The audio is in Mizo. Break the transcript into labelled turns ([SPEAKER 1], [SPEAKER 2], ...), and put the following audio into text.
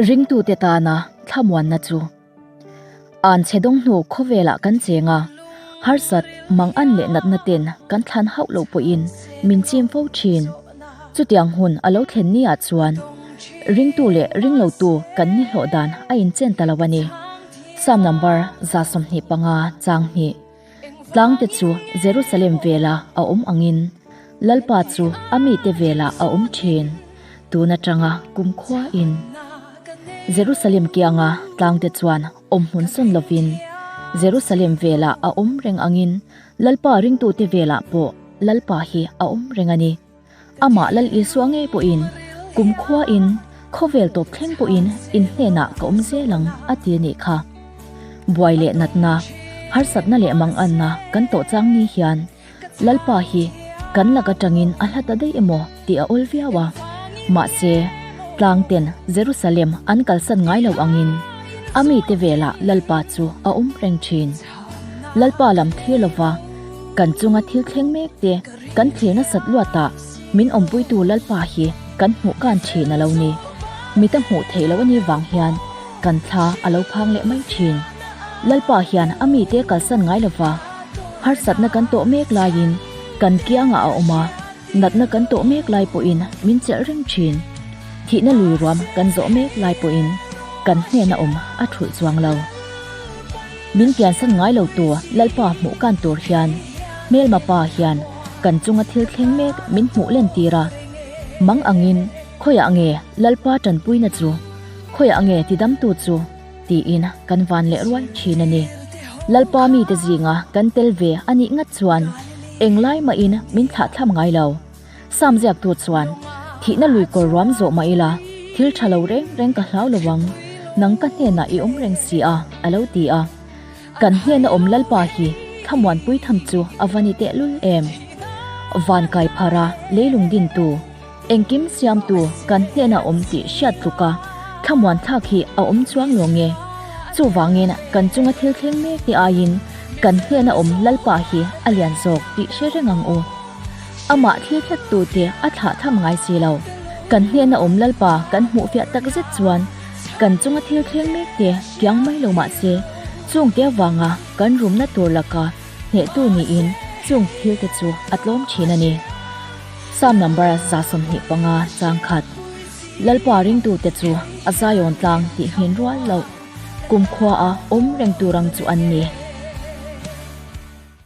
[SPEAKER 1] Ringtute tana thlamuanna chu an chedawng hnu khawvelah kan cheng a, harsat, mangan leh natna ten kan thlan hauh loh pawhin min chim fo thin. Chutiang hun a lo thlen ni ah chuan ringtu leh ringlotu kan ni hlawh dan a inchen ta lo a ni. Psalm number za sawmhnih panga chang hnih. Tlangte chu Jerusalem vela a awm angin, Lalpa chu a mite vela a awm thin. Tun atanga kumkhua in Jerusalem kianga tlangte chuan awm hmun sawn lovin Jerusalem vela a awm reng angin, Lalpa ringtute velah pawh Lalpa hi a awm reng a ni. Amah Lal Isua ngei pawhin kumkhuain khawvel tawp thleng pawhin in hnenah ka awm zel ang a ti anih kha. Buai leh natna, harsatna leh manganna kan tawh chang ni hian Lalpa hi kan lak atangin a hla ta daih emaw tih a awl viau a. Mahse, tlangten Jerusalem an kalsan ngai lo angin a mite velah Lalpa chu a awm reng thin. Lalpa lam thlir lova kan chunga thil thleng mek te, Kan tle nasat luat ah min awmpuitu Lalpa hi kan hmuh kan thin a lo ni. Mi te hmuh theih loh a nih vang hian kan thla a lo phang leh mai thin. Lalpa hian a mi te kalsan ngai lo va. Harsatna kan tawh mek lai in kan kiang ah a awm a, natna kan tawh mek lai pawh in min chelh reng thin. Thihna lui ruam kan zawh mek lai pawh in kan hnenah awm a thulh chuang lo. Min piansan ngai lo tawh Lalpa hmuh kan tur hian Hmelma pa hian kan chunga thil thleng mek min hmuh len tir a, mang angin khawiah nge Lalpa tanpuina chu, khawiah nge tidamtu chu tiin kan van leh ruai thin a ni. Lalpa mite zinga kan tel ve a nih ngat chuan eng lai mahin min thlahthlam ngai lo. Psalm ziak tu chuan, Thihna lui kawr ruam zawh mah ila, thil tha lo reng reng ka hlau lo ang, nang ka hnenah i awm reng si a, a lo ti a. Kan hnena awm Lalpa hi thlamuan pui tham chu a va ni tehlul em! Van kai phara, leilung dintu, engkim siamtu kan hnenah awm tih hriat tluka thlamuan thlak hi a awm chuang lo nge? Chuvangin kan chunga thil thleng mek te aiin kan hnenah awm Lalpa hi a lian zawk tih hre reng ang u. Amah thil hlat tu te a thlah tham ngai si lo. Kan hnen a awm Lalpa kan hmuh fiah tak zet chuan kan chunga thil thleng mek te kiang mai lo mah se, chung te avanga kan rumna tur laka hneh tu niin chung thil te chu a tlawm thin a ni. Psalm number za sawmhnih panga chang khat. Lalpa ring tu te chu a Zion tlang tih nghin rual loh kumkhua a awm reng tur ang chu an ni.